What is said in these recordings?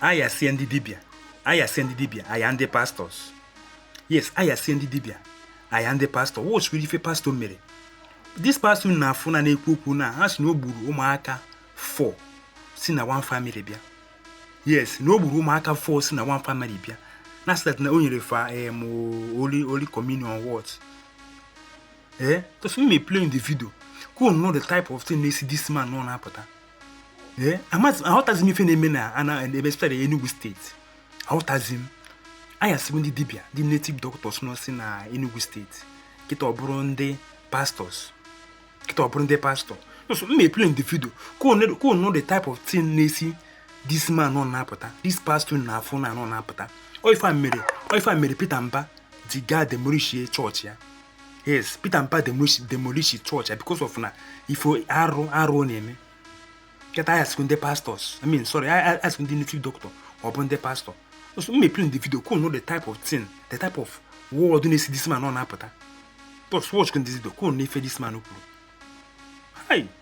aya sie ndị dibịa aya sie ndị dibịa aya ndị pastors yes aya sie ndị dibịa aya ndị pastor wọchiri ife pastor mere this pastor unu na-afụ na na-ekwu okwu na ha si na o gburu ụmụaka four si na one family bịa yes na o gburu ụmụaka four si na one family bịa na sị that na o nyere fa em holy holy communion what eh just m ma-eplay the video ka unu nụ the type of thing na-esi this man n'ọnụ apụta ee amazi aghọtazi m ife na-eme na ana ebe especially Enugu state aghọtazi m aya siri ndị dibịa ndị native doctors nọ si na Enugu state kịta ọ bụrụ ndị pastors kịta ọ bụrụ ndị pastor so m ma-eplay unu the video ka unu nụ the type of thing na-esi this man n'ọnụ apụta this pastor unu na-afụ n'ọnụ apụta ọ ife a mere ọ ife a mere Peter Mba ji gaa demolishie church ya yes Peter Mba demolish church ya because of na ife arụ arụ ọ na-eme kịta ya sikwu ndị pastors i mean sorry ya sikwu ndị native doctor ọ bụ ndị pastor so m ma-eplay unu the video ka unu nụ the type of thing the type of word na-esi this man n'ọnụ apụta but watchkwuo the video ka unu nụ ife this man kwuru hi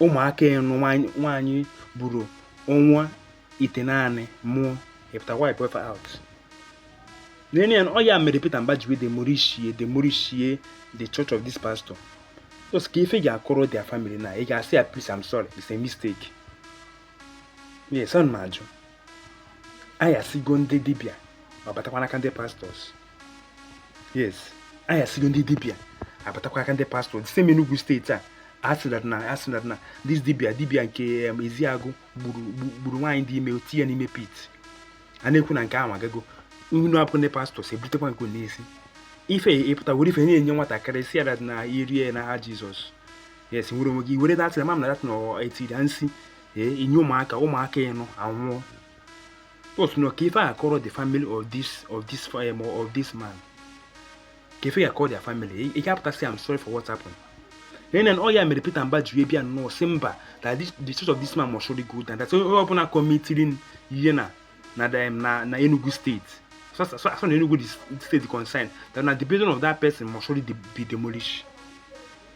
ụmụaka ịnọ nwaanyị buru ọnwa itenaanị mụọ ị pụta wipe fa out n'enye ya ọ ya mere Peter Mba ji wee demolishie demolishie the church of this pastor just ka ife ị ga-akọrọ the family na ị ga-asị ya please I'm sorry it's a mistake yes ana m ajụ aya sigo ndị dibịa ọ batakwa n'aka ndị pastors yes aya sigo ndị dibịa ọ batakwa n'aka ndị pastors site n'Enugu state a a sị that na a sị that na this dibịa dibịa nke Ezeagụ gburu nwaanyị dị ime o tinye ya n'ime pit a na-ekwu na nke ahụ agago unu abụkụ ndị pastors ebutekwa nke nsi ife ị pụta were ife na-enye nwatakịrị sị ya that na rie na aha Jizọs yes nwere onwe gị without ịma na that na e tiri nsi ee ị nye ụmụaka ụmụaka ịnọ anwụọ Otu na ka ife ị ya-akọrọ the family of this of this um, of this man ka ife ị ya-akọrọ their family ị ga-apụta sị I'm sorry for what happened nene ọ ya mere Peter Mba ji bịa nnọọ sị mba that this, the church of this man must surely go down that onye ọbụla commitiri ihe na na dem na na Enugu state so so so na Enugu the state concern that na the building of that person must surely be demolished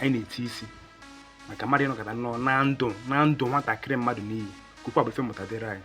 anyị na-eti isi maka mmadụ ịnọkata nnọọ naa ndụ naa ndụ nwatakịrị mmadụ n'iyi ka okwu a bụ ife mmụta dịrị anyị